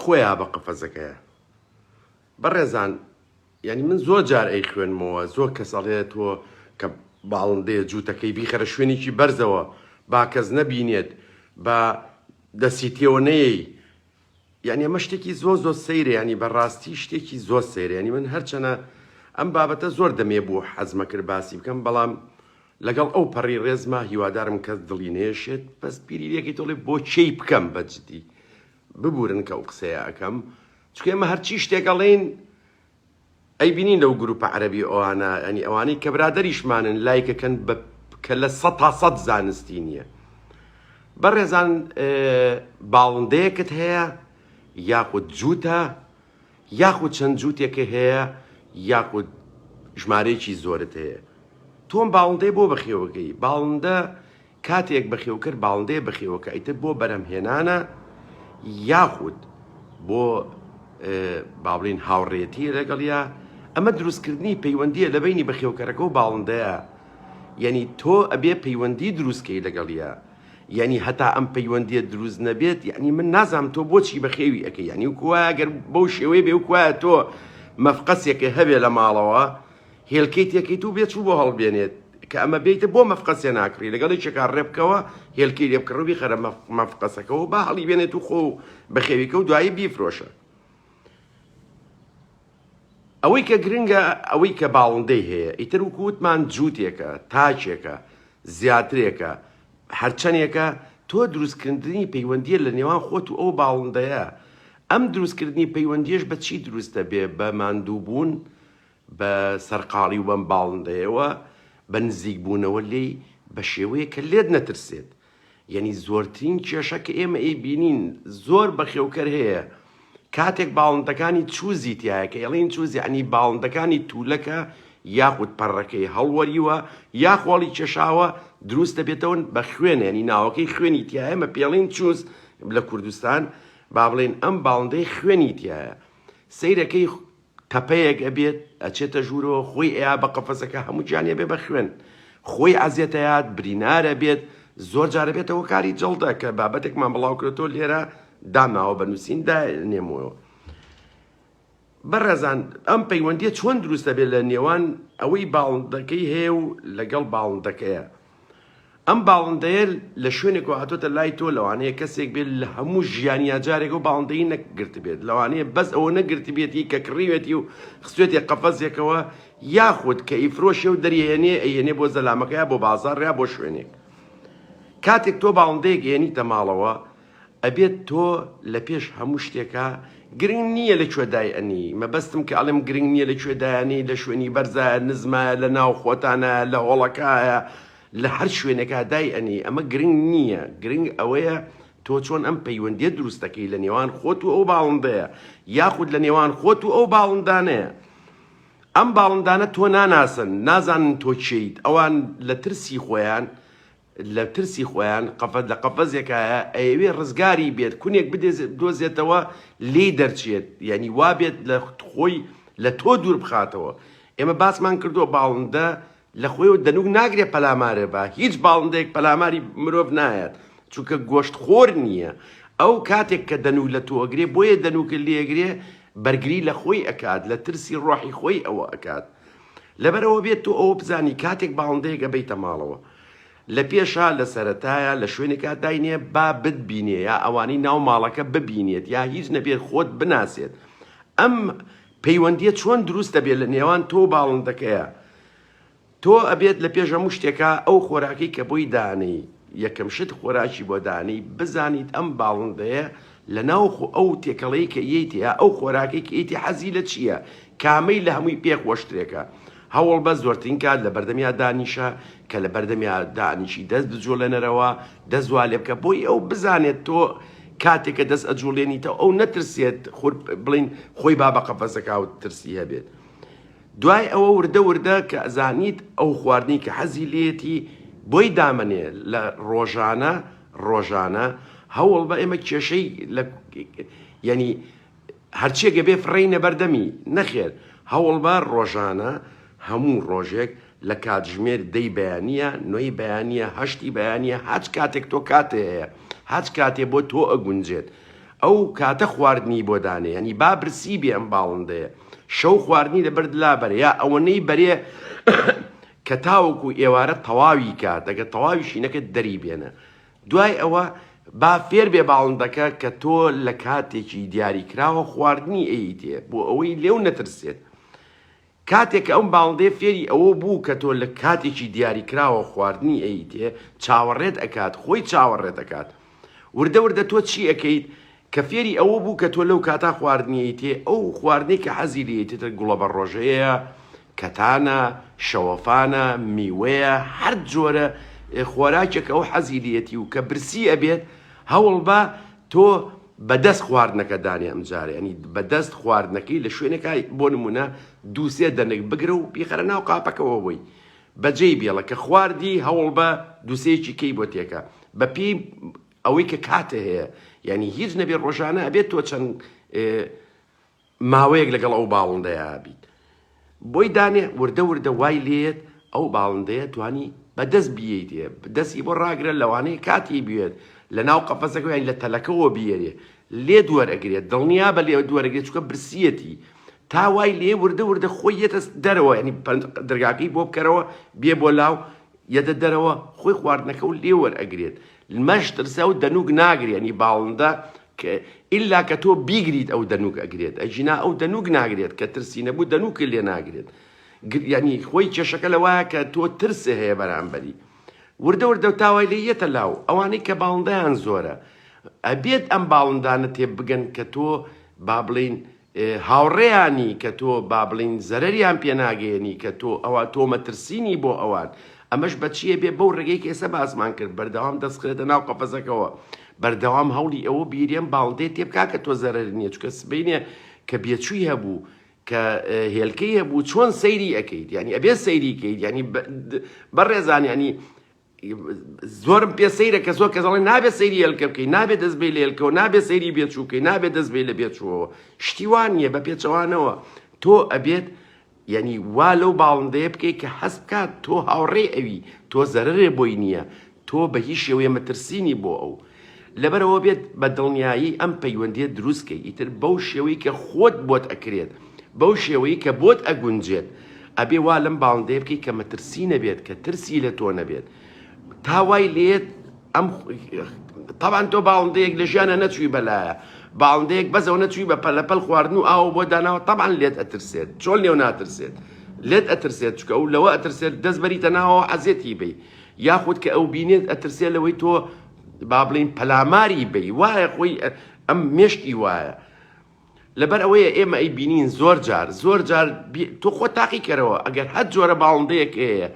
خۆیا بە قەفەزەکەیە بەڕێزان یعنی من زۆر جار ئەی خوێنمەوە زۆر کەس ئەڵێت تۆ کە باڵندەیە جووتەکەی بیخەرە شوێنێکی بەرزەوە با کەس نەبینێت بە دەسی تێوە نەیەی یعنی ئەمە شتێکی زۆر زۆر سەیرە ینی بەڕاستی شتێکی زۆر سەیرێنی من هەرچەنە ئەم بابەتە زۆر دەمێ بوو حەزمە کرد باسی بکەم بەڵام لەگەڵ ئەو پەڕی ڕێزما هیوادارم کەس دڵی نەیەشێت بەس بیری لێکەی تۆڵێ بۆ کێی بکەم بەجدی ببورن کە ئەو قسەیە ئەکەم چکە ئێمە هەرچی شتێک ئەڵێین ئەیبینین لەو گروپە عەرەبی ئەوانە ئەنی ئەوانەی کە برادریشمانن لایکەکەن بە کە لە سە تا سەد زانستی نییە بەڕێزان باڵندەیەکت هەیە یاخود جووتە یاخود چەند جووتێکە هەیە یاخود ژمارەیەکی زۆرت هەیە تۆم باڵندەی بۆ بەخێوەکەی باڵندە کاتێک بەخێوکەر باڵندەیە بەخێوەکە ئیتر بۆ بەرەمهێنانە یاخود بۆ باڵین هاوڕێتی لەگەڵیا ئەمە دروستکردنی پەیوەندیە لە بینی بەخێوکەرەکە و باڵندەیە یعنی تۆ ئەبێ پەیوەندی دروستکەی لەگەڵیە یەعنی هەتا ئەم پەیوەندیە دروست نەبێت یەعنی من نازانم تۆ بۆچی بەخێوی ئەکەی یەعنی وەکو وایە گەر بەو شێوەیە بێ وەکو وایە تۆ مەفقەسێکە هەبێ لە ماڵەوە هێلکەی تێکەیت و بێ چوو بۆ هەڵبێنێت کە ئەمە بێیتە بۆ مەفقەسێ ناکڕی لەگەڵ یەکێکا ڕێ بکەوە هێلکەی لێ بکڕە و بیخەرە مەفقەسەکەەوە با هەڵیبێنێت و خۆ بەخێویکە و دوایی بیفرۆشە ئەوەی کە گرنگە ئەوەی کە باڵندەی هەیە ئیتر وەکو وتمان جووتێکە، تاکێکە، زیاترێکە، هەرچەنێکە تۆ دروستکردنی پەیوەندییە لە نێوان خۆت و ئەو باڵندەیە، ئەم دروستکردنی پەیوەندییەش بە چی دروست دەبێ بە ماندووبوون بە سەرقاڵی و بەم باڵندەیەوە بە نزیکبوونەوە لێی بە شێوەیەک کە لێت نەترسێت، یەنی زۆرترین کێشە کە ئێمە ئەیبینین زۆر بەخێوکەر هەیە کاتێک باڵندەکانی چوزی تیایە کە ئێڵین چوز یەعنی باڵندەکانی تولەکە یاخود پەڕەکەی هەڵوەریوە یا خۆڵی کێشاوە دروست دەبێتەوەن بە خوێن یەنی ناوەکەی خوێنی تیایە مە پێڵین چوز لە کوردستان با بڵێن ئەم باڵندەی خوێنی تیایە سەیرەکەی تەپەیەک ئەبێت ئەچێتە ژوورەوە خۆی ئەیا بە قەفەزەکە هەموو گیانی ئەبێ بە خوێن خۆی عەزێت ئەیات برینار ئەبێت زۆر جار ئەبێتە هۆکاری جەڵدە کە بابەتێکمان بڵاوکرێتەوە لێرە داماوە بە نووسین دانێمەوە بەڕێزان ئەم پەیوەندیە چۆن دروستە بێت لە نێوان ئەوەی باڵندەکەی هەیە و لەگەڵ باڵندەکەیە ئەم باڵندەیە لە شوێنێکەوە هاتۆتە لای تۆ لەوانەیە کەسێک بێت لە هەموو ژیانی یاجارێکەوە باڵندەی نەگرتبێت لەوانەیە بەس ئەوە نەگرتبێتی کە کڕیوێتی و خستێتی قەفەزێکەوە یاخود کە ئیفرۆشێ و دەریێنێ ئەیێنێ بۆ زەلامەکەی بۆ بازار ریا بۆ شوێنێک کاتێک تۆ باڵندەیەک ئێنیتە ماڵەوە ئەبێت تۆ لە پێش هەموو شتێکا گرنگ نییە لە کوێ دای ئەنی مەبەستم کە ئەڵێم گرنگ نییە لە کوێ دایانی لە شوێنی بەرزایە نزمایە لە ناو خۆتانە لە هۆڵەکایە لە هەر شوێنێکا دای ئەنی ئەمە گرنگ نییە گرنگ ئەوەیە تۆ چۆن ئەم پەیوەندیە دروست دەکەی لە نێوان خۆت و ئەو باڵندەیە یاخود لە نێوان خۆت و ئەو باڵندانەیە ئەم باڵندانە تۆ ناناسن نازانن تۆ کێیت ئەوان لە ترسی خۆیان لە ترسی خۆیان قەفەز لە قەفەزێکایە ئەیەوێ ڕزگاری بێت کونێک بدۆزێتەوە لێی دەرچێت یانی وابێت لە خۆی لە تۆ دوور بخاتەوە ئێمە باسمان کردووە باڵندە لە خۆیەوە دەنوک ناگرێت پەلامارێ بە هیچ باڵندەیەک پەلاماری مرۆڤ نایەت چونکە گۆشت خۆر نییە ئەو کاتێک کە دەنوو لە تۆگرێ بۆیە دەنوکە لێگرێ بەرگری لە خۆی ئەکات لە ترسی ڕۆحی خۆی ئەوە ئەکات لەبەرئەوە بێت تۆ ئەوە بزانی کاتێک باڵندەیەک ئەبەیتە ماڵەوە لە پێشا لە سەرەتایە لە شوێنێکا داینێ با بتبینێ یا ئەوانەی ناو ماڵەکە ببینێت یا هیچ نەبێت خۆت بناسێت ئەم پەیوەندیە چۆن دروست دەبێت لە نێوان تۆ باڵندەکەیە تۆ ئەبێت لە پێش هەموو شتێکە ئەو خۆراکی کە بۆی دانەی یەکەم شت خۆراکی بۆ دانەی بزانیت ئەم باڵندەیە لە ناوخۆ ئەو تێکەڵەی کە یەی تێیە ئەو خۆراکەی کە یەی تێ حەزی لە چییە کامەی لە هەمووی پێ خۆشترێکە هەوڵ بە زۆرترین کات لە بەردەمیا دانیشە کە لە بەردەمیا دانیشی دەست بجوڵێنەرەوە دەست وا لێ بکە بۆی ئەو بزانێت تۆ کاتێک کە دەست ئەجوڵێنیتەوە ئەو نەترسێت خۆ بڵین خۆی با بە قەفەزەکە و ترسی هەبێت دوای ئەوە وردە وردە کە ئەزانیت ئەو خواردنەی کە حەزی لێیەتی بۆی دامەنێ لە ڕۆژانە ڕۆژانە هەوڵ بە ئێمە کێشەی لە یعنی هەرچێگە بێ فڕینە بەردەمی نەخێر هەوڵ بە ڕۆژانە هەموو ڕۆژێک لە کاتژمێر دەی بەیانە نۆی بەیانە هەشتی بەیانە هاچ کاتێک تۆ کاتێ هەیە هاچ کاتێ بۆ تۆ ئەگونجێت ئەو کاتە خواردنی بۆ دانێ یانی با برسی بێ ئەم باڵندەیە شەو خواردنی لە بەرد لا بەرێ یا ئەوەنەی بەرێ کە تاوەکو ئێوارە تەواوی کات ئەگە تەواویشی نەکرد دەری بێنە دوای ئەوە با فێر بێ باڵندەکە کە تۆ لە کاتێکی دیاری کراوە خواردنی ئەیتێ بۆ ئەوەی لێو نەترسێت کاتێک کە ئەم باڵندەیە فێری ئەوە بوو کە تۆ لە کاتێکی دیاریکراوە خواردنی ئەیتێ، چاوەڕێت ئەکات، خۆی چاوەڕێت ئەکات. وردە وردە تۆ چی ئەکەیت؟ کە فێری ئەوە بوو کە تۆ لەو کاتە خواردنی ئەیتێ، ئەو خواردنەی کە حەزی لێیەتی گوڵەبەڕۆژەیە، کەتانە، شەوەفانە، میوەیە، هەر جۆرە خۆراکێک کە ئەو حەزی لێیەتی و کە برسی ئەبێت، هەوڵبە تۆ بەدەست خواردنەکە دانێ ئەمجارە یانی بەدەست خواردنەکەی لە شوێنێکا بۆ نموونە دوو سێ دەنک بگرە و بیخەرە ناو قاپەکەوە بۆی بەجێی بێڵە کە خواردی هەوڵبە دووسێکی کەی بۆ تێکە بە پێی ئەوەی کە کاتێ هەیە یانی هیچ نەبێ ڕۆژانە ئەبێت تۆ چەند ماوەیەک لەگەڵ ئەو باڵندەیە بیت بۆی دانێ وردە وردە وای لێت ئەو باڵندەیە توانی بەدەست بیەیتێ دەستی بۆ ڕاگرە لەوانەیە کاتی بوێت لە ناو قەفەسەکە یان لە تەلەکەەوە بیێرێ لێ دوەرەگرێت دڵنیا بە لێ دوەرەگرێت چکە برسیەتی تا وای لێ وردە وردە خۆی یەتە دەرەوە ینی دەرگاکەی بۆ بکەرەوە بێ بۆ لاو یەدە دەرەوە خۆی خواردنەکەو لێ وەر ئەگرێت لمەش ترسە و دەنووک ناگرێ یەنی باڵندە کە ئیلا کە تۆ بیگریت ئەو دەنووک ئەگرێت ئەگینا ئەو دەنووک ناگرێت کە ترسی نەبوو دەنووکە لێ ناگرێت گر یەنی خۆی کێشەکە لە وایە کە تۆ ترسێ هەیە بەرامبەری وردە وردە تاوای لێ یەتە لاو ئەوانەی کە باڵندەیان زۆرە ئەبێت ئەم باڵندانە تێ بگەن کە تۆ با بڵێین هاوڕێیانی کە تۆ با بڵێین زەرەریان پێ ناگەیەنی کە تۆ ئەوا تۆ مەترسینی بۆ ئەوان ئەمەش بە چیە بێ بەو ڕێگەی کە ئێستا باسمان کرد بەردەوام دەسخرێتە ناو قەفەزەکەوە بەردەوام هەوڵی ئەوە بیرێن باڵدێ تێبکا کە تۆ زەرەر نیە چکە سبینێ کە بێچووی هەبوو کە هێلکەی هەبوو چۆن سەیری ئەەکەیت یعنی ئەبێ سەیری کەیت یعنی بەڕێزان یعنی زۆرم پێ سەیرە کە زۆر کەس دەڵێن نابێت سەیری هێلکە بکەی، نابێت دەست بەی لە هێلکەوە، نابێت سەیری بێچوو بکەی، نابێت دەست بەی لە بێچووەوە. شتی وا نییە، بە پێچەوانەوە تۆ ئەبێت یانی وا لەو باڵندەیە بکەیت کە هەست بکات تۆ هاوڕێی ئەوی، تۆ زەرەرێ بۆی نییە، تۆ بە هیچ شێوەیە مەترسی نی بۆ ئەو. لەبەرئەوە بێت بە دڵنیایی ئەم پەیوەندیەت دروست کەی ئیتر بەو شێوەی کە خۆت بۆت ئەکرێت بەو شێوەی کە بۆت ئەگونجێت ئەبێ وا لەم باڵندەیە بکەی کە مەترسی نەبێت کە ترسی لە تۆ نەبێت تا وای لێت ئەم تاوان تۆ باڵندەیەک لە ژیانە نەچووی بەلایە باڵندەیەک بەزەوە نەچووی بە پەلەپەل خواردن و ئاو بۆ داناوە تاوان لێت ئەترسێت چۆن لێو ناترسێت لێت ئەترسێت چکە و لەوە ئەترسێت دەست بەریتە ناوەوە عەزێتی بی یاخود کە ئەو بینێت ئەترسێ لەوەی تۆ با بڵێین پەلاماری بەی وایە خۆی ئەم مێشکی وایە لەبەر ئەوەیە ئێمە ئەی بینین زۆر جار زۆر جار تۆ خۆ تاقی کەرەوە ئەگەر هەر جۆرە باڵندەیەک هەیە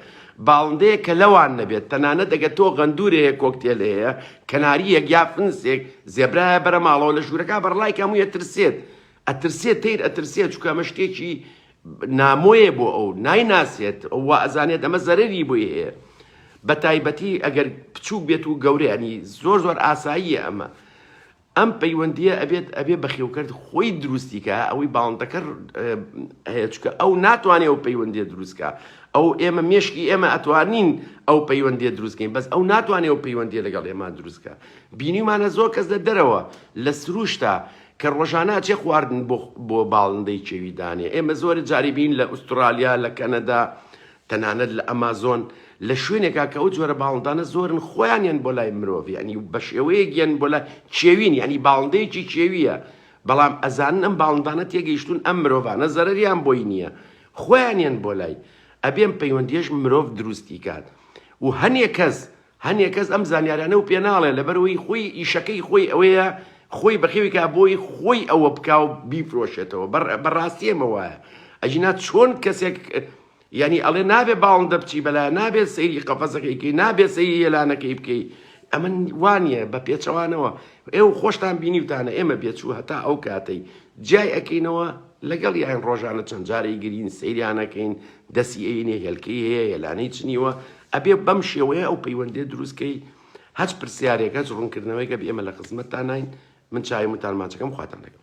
باڵندەیە کە لەوان نەبێت تەنانە دەگە تۆ غەندورەیە کۆکتێل هەیە کەناریەک یا فنسێک زێبرایە بەرە ماڵەوە لە ژوورەکە بەڕلای کەمویە ترسێت ئەترسێ تەیر ئەترسێ چونکە ئەمە شتێکی نامۆیە بۆ ئەو نایناسێت ئەو وا ئەزانێت ئەمە زەرەری بۆی هەیە بە تایبەتی ئەگەر بچووک بێت و گەورەیانی زۆر زۆر ئاساییە ئەمە ئەم پەیوەندیە ئەبێت ئەبێ بەخێوکرد خۆی دروستیکە ئەوەی باڵندەکە هەیە چکە ئەو ناتوانێت ئەو پەیوەندی دروستکە ئەو ئێمە مێشکی ئێمە ئەتوانین ئەو پەیوەندی دروستکەین بەس ئەو ناتوانێت ئەو پەیوەندی لەگەڵ ئێمە دروستکە بینیمانە زۆر کەس لە دەرەوە لە سروشتا کە ڕۆژانە ئەچێ خواردن بۆ بۆ باڵندەی کێوی دانێ ئێمە زۆرە جاری بین لە ئوسترالیا لە کەنەدا تەنانەت لە ئەمازۆن لە شوێنێکا کە ئەو جۆرە باڵندانە زۆرن خۆیانیان بۆ لای مرۆڤ ینی بە شێوەیەک گەن بۆ لە کێوین ینی باڵندەیەکی کێویە بەڵام ئەزانن ئەم باڵندانە تێگەیشتون ئەم مرۆڤانە زەرریان بۆی نییە خۆیانیان بۆ لای ئەبێم پەیوەندیش مرۆڤ دروستی کات و هەنێ کەس هەنێ کەس ئەم زانیارانەو پێ ناڵێ لەبەرئەوەی خۆی ئیشەکەی خۆی ئەوەیە خۆی بەخێوی کا بۆی خۆی ئەوە بکاو بیفرۆشێتەوە بە بەڕاستی ئەمە وایە ئەجینا چۆن کەسێک یانی ئەڵێ نابێ باڵندە بچی بەلا نابێ سەیری قەفەزەکەیکەی نابێ سەیری یەلانەکەی بکەی ئەمن وانە بە پێچەوانەوە ئێو خۆشتان بینیوتانە ئێمە بێچوو هەتا ئەو کاتەی جای ئەکەینەوە لەگەڵ یان ڕۆژانە چەند جارەی گرین سەیرانەکەین دەسی ئەینێ هێلکەی هەیە هێلانەی چنیوە ئەبێ بەم شێوەیە ئەو پەیوەندیە دروست کەی هەچ پرسیارێک هەچ ڕونکردنەوەیەک ئەبی ئێمە لە خزمەتتاناین من چاوی متان ماچەکەم خواتان لەگەڵ.